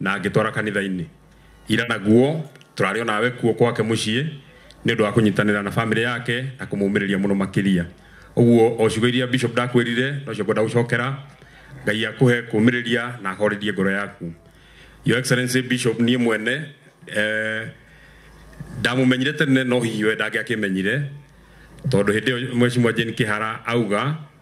na ngĩtwara kanitha-inĩ ira naguo tũrarĩ o nawe kuo kwake mũciĩ nĩ ũndũ wa kũnyitanĩra na bamĩrĩ yake na kũmũmĩrĩria mũno makĩria ũguo o ciugo iria bishop ndakwĩrire nocio ngwenda gũcokera ngai akũhe kũmĩrĩria na ahorerie ngoro yaku your excellency bishop niĩ mwene eh, ndamumenyire tene no hihi we ndangĩakĩmenyire tondũ hĩndĩ ĩyo mheshimiwa Jane Kĩhara auga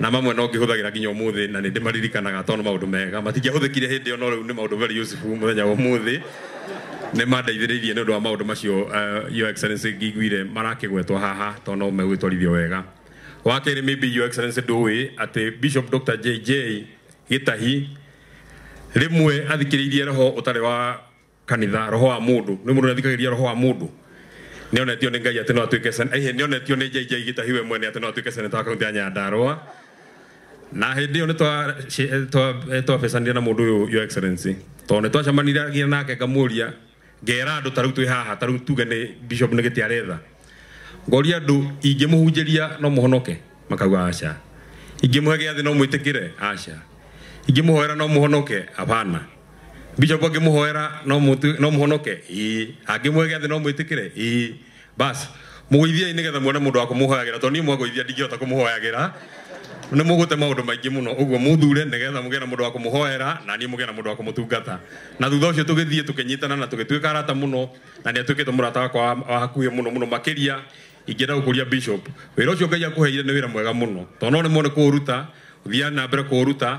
na mamwe no ngĩhũthagĩra nginya ũmũthĩ na nĩ ndĩmaririkanaga tondũ nĩ maũndũ mega matingĩahũthĩkire hĩndĩ ĩyo no rĩu nĩ maũndũ very useful mũthenya wa ũmũthĩ nĩ mandeithĩrĩirie nĩ ũndũ wa maũndũ macio uh, your excellency ngĩiguire marakĩgwetwo haha tondũ no megwĩtwarithio wega wa kerĩ maybe your excellency ndũĩ atĩ bishop dr jj gĩtahi rĩmwe athikĩrĩirie roho ũtarĩ wa kanitha roho wa mundu ni mundu nathikagiriria roho wa mundu ni onetio ni ngai ati no atuike sen eh ni onetio ni jj gitahiwe mwene ati no atuike seneta wa kaunti ya nyandarua na hindi iyo ni twa twa twa becanire na mundu uyu your excellency to ni twacemaniragia nake ngamuria ngera andu tariu twi haha tariu tuge ni bishop ni giti aretha ngoria andu ingimuhunjiria no muhonoke makauga aca ingimuhe giathi no mwitikire aca ingimuhoera no muhonoke hapana Bishop angĩmũhoera no mũtu- no mũhonoke ĩĩ angĩmũhe gĩathĩ no mwĩtĩkĩre ĩĩ basi mũgũithiai nĩgetha muone mũndũ wa kũmũhoyagĩra tondũ niĩ mwagũithia ndingĩhota kũmũhoyagĩra nĩ mũgũte maũndũ maingĩ mũno ũguo mũthure nĩgetha mũgĩe na mũndũ wa kũmũhoera na niĩ mũgĩe na mũndũ wa kũmũtungata na thutha ũcio tũgĩthiĩ tũkĩnyitana na tũgĩtuĩka arata mũno na nĩ atuĩkĩte mũrata wakwa wa wa hakuhĩ mũno mũno makĩria ingĩenda gũkũria bishop wĩra ũcio ngai akũheire nĩ wĩra mwega mũno tondũ no nĩ mone kũũruta thiaga na mbere kũũruta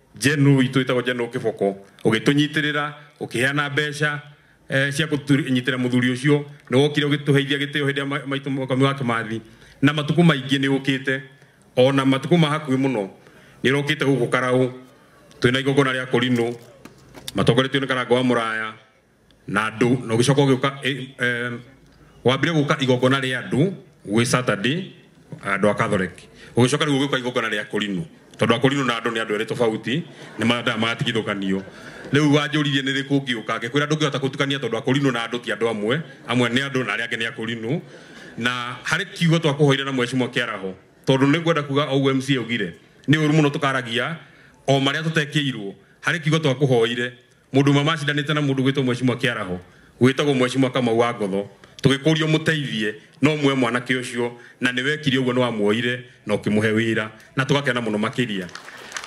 General witũ wĩtagwo General Kĩboko ũgĩtũnyitĩrĩra ũkĩheana mbeca eh, cia kũnyitĩra mũthuri ũcio nĩ wokire ũgĩtũheithia gĩtĩo hĩndĩ ya ma- maitũ mũkami wa Kĩmathi na matukũ maingĩ nĩ ũkĩte ona matukũ ma hakuhĩ mũno nĩ ũrokĩte gũkũ Karaũ twĩna igongona rĩa Korinũ matongoretio nĩ Karanga wa Mũraya na andũ na ũgĩcoka ũgĩũka eh, eh, wambire gũka igongona rĩa andũ gwĩ saturday andũ a catholic ũgĩcoka rĩu ũgĩũka igongona rĩa kũrinũ tondũ akũrinũ na andũ nĩ andũ erĩ tofauti nĩ mathaa magatigithũkanio rĩu wanjũririe nĩ rĩkũ ngĩũka ngĩkwĩra ndũngĩhota gũtukania tondũ akũrinũ na andũ ti andũ amwe amwe nĩ andũ na arĩa angĩ nĩ akũrinũ na harĩ kiugo twakũhoire na mwecimwa kĩaraho tondũ nĩ ngwenda kuga o ũguo mca augire nĩ ũru mũno tũkaragia o marĩa tũtekĩirwo harĩ kiugo twakũhoire Mũndũ ũmwe macindanĩte na mũndũ gwĩtwo Mwecimwa Kĩaraho, gwĩtagwo Mwecimwa Kamau wa Ngotho, tũgĩkũria ũmũteithie no muoe mwanake ũcio, na nĩ wekire ũguo, nĩ wamuoire na ũkĩmũhe wĩra, na tũgakena mũno makĩria.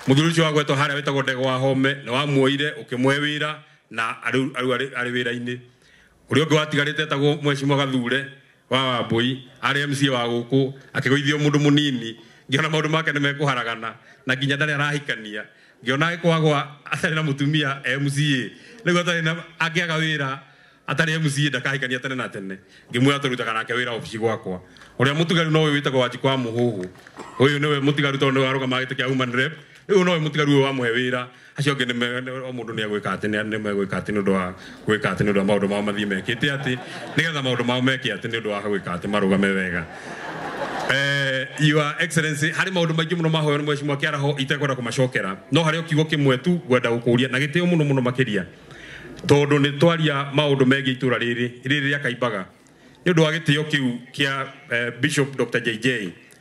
Mũthuri ũcio wagwetwo harĩa wĩtagwo Ndegwa wa Home, nĩ wamuoire ũkĩmũhe wĩra na rĩu arĩ wĩra-inĩ. Kũrĩ ũngĩ watigarĩte etagwo Mheshimiwa Gathure wa Wambũi, arĩ MCA wa gũkũ, akĩgũithio mũndũ mũnini, ngĩona maũndũ make nĩ mekũharagana na nginya ndarĩ arahikania, ngĩona agĩkwagwa atarĩ na mũtumia e MCA, rĩu atarĩ na, angĩaga wĩra atarĩ MCA ndakahikania tene na tene, ngĩmwĩra tũrutaga nake wĩra obici gwakwa. Ũrĩa mũtigaru no ũyũ wĩtagwo Wanjikũ wa Mũhũhũ, ũyũ nĩwe mũtigaru tondũ nĩwe warũgamaga gĩtĩ kĩa Woman Rep, rĩu no ũyũ mũtigaru ũyũ wamũhe wĩra, acio angĩ nĩ me- nĩ- o mũndũ nĩ egwĩka atĩ nĩ nĩ megwĩka atĩ nĩ ũndũ wa gwĩka atĩ nĩ ũndũ wa maũndũ mao mathiĩ mekĩte atĩ nĩgetha maũndũ mao meke atĩ nĩ ũndũ wa gwĩka atĩ marũgame wega Eh, your excellency harĩ maũndũ maingĩ mũno mahoyo nĩ mwecimwa kĩaraho itekwenda kũmacokera no harĩ o kiugo kĩmwe tu ngwenda gũkũria na gĩtĩo mũno mũno makĩria tondũ nĩ twaria maũndũ megiĩ itũra rĩrĩ rĩrĩ rĩa kaimbaga nĩ ũndũ wa gĩtĩo kĩu kĩa eh, bishop dr jj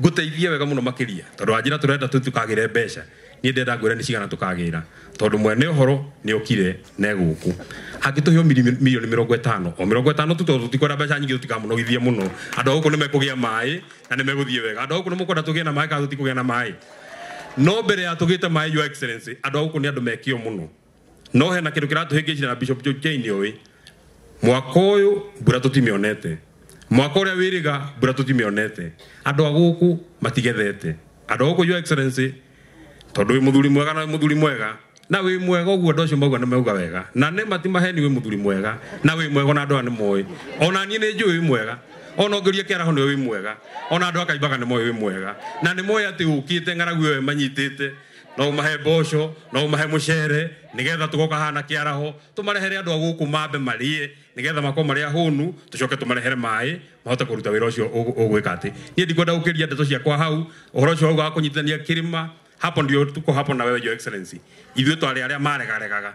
ngũteithie wega mũno makĩria tondũ anjĩra tũrenda tũ tũkagĩre mbeca niĩ ndenda ngwĩra nĩ cigana tũkagĩra tondũ mwene ũhoro nĩ okire na egũkũ angĩtũhe o miri- milioni mĩrongo ĩtano o mĩrongo ĩtano tu tondũ tũtikwenda mbeca nyingĩ tũtikamũnogithie mũno andũ a gũkũ nĩ mekũgĩa maĩ na nĩ megũthiĩ wega andũ a gũkũ nĩ mũkwenda tũgĩe na maĩ kana tũtikũgĩa na maĩ no mbere ya tũgĩte maĩ your excellency andũ a gũkũ nĩ andũ mekĩo mũno no hena kindu kiratuhingicire na bishop Joe Jane ũĩ mwaka ũyũ mbura tũtimĩonete mwaka ũrĩa wĩrĩga mbura tũtimĩonete andũ a gũkũ matigethete andũ a gũkũ your excellency tondũ wĩ mũthuri mwega na wĩ mũthuri mwega na wĩ mwega ũguo andũ acio mauga nĩ mauga wega na nĩ mati maheni wĩ mũthuri mwega na wĩ mwega na andũ aya nĩ moĩ ona niĩ nĩ njũĩ wĩ mwega ona ongeria kĩaraho nĩ wĩ mwega ona andũ akaimbaga nĩ moĩ wĩ mwega na nĩ moĩ atĩ ũkĩte ng'aragu ĩyo ĩmanyitĩte no umahe mboco no umahe mucere nigetha tugoka hana kiaraho tumarehere andu aguku mambe marie nigetha mako maria hunu tucoke tumarehere mai mahote kuruta wira ucio ugwika ati nie ndikwenda gukiria ndeto ciakwa hau uhoro ucio ugaga kunyitithania kirima hapo ndio tuko hapo na wewe your excellency ithuĩ twarĩ arĩa maregaregaga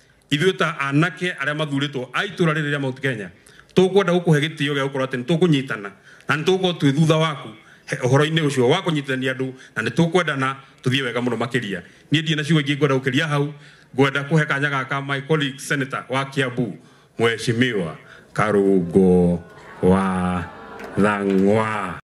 ithuĩ ta anake arĩa mathurĩtwo a itũra rĩrĩ rĩa Mount Kenya tũkwenda gũkũhe gĩtĩo gĩa gũkorwo atĩ nĩ tũkũnyitana na nĩ tũgũkorwo twĩ thutha waku he- ũhoro-inĩ ũcio wa kũnyitithania andũ na nĩ tũkwendana tũthiĩ wega mũno makĩria niĩ ndirĩ na ciugo ingĩ ngwenda gũkĩria hau ngwenda kũhe kanya gaka my colleague senator wa Kiambu Mheshimiwa Karungo wa Thang'wa